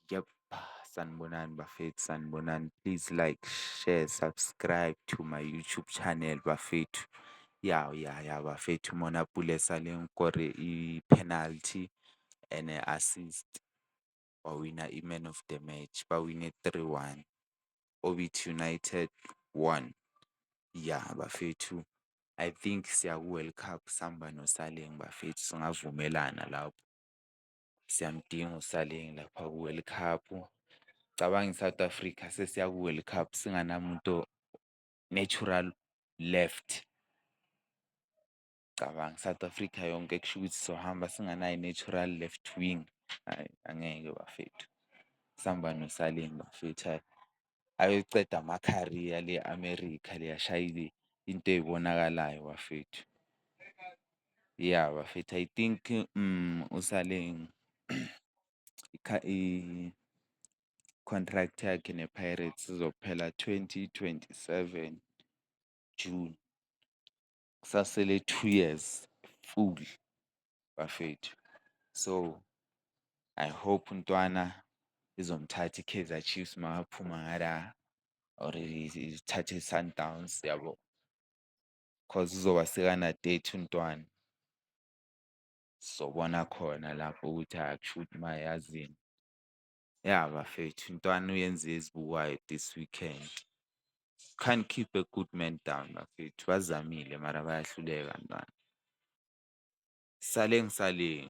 Yep. Sanibonani bafethu, sanibonani. Please like, share, subscribe to my YouTube channel bafethu. Ya, ya, ya bafethu uMona Pule sale ngikore i-penalty and assist. Wawina i-man of the match, bawine 3-1. Orbit United won. Ya bafethu, I think siya ku-World Cup sihamba noSaleng bafethu, singavumelana lapho. siyamdinga uSaleng lapha ku-World Cup. Cabanga i-South Africa sesiya ku-World Cup singanamuntu natural left. Cabanga i-South Africa yonke kusho ukuthi sohamba singanaye i-natural left wing, hhayi angeke bafethu. Sihamba noSaleng bafethu hhayi. ayoceda ama-career le America le ashayile into eyibonakalayo bafethu. Ya bafethu I think usale i-contract yakhe nePirates izophela twenty twenty-seven June. kusasele two years full bafethu. So I hope uNtwana izomthatha iKaizer Chiefs makaphuma ngala or ithathe iSundowns yabo cause uzoba sekana-thirty uNtwana. Sizobona khona lapho ukuthi akushuthi mayazini. Ya bafethu intwana uyenze ezibukayo this weekend. Can't keep a good man down bafethu. Bazamile mara bayahluleka ntwana. Sale ngisaleni.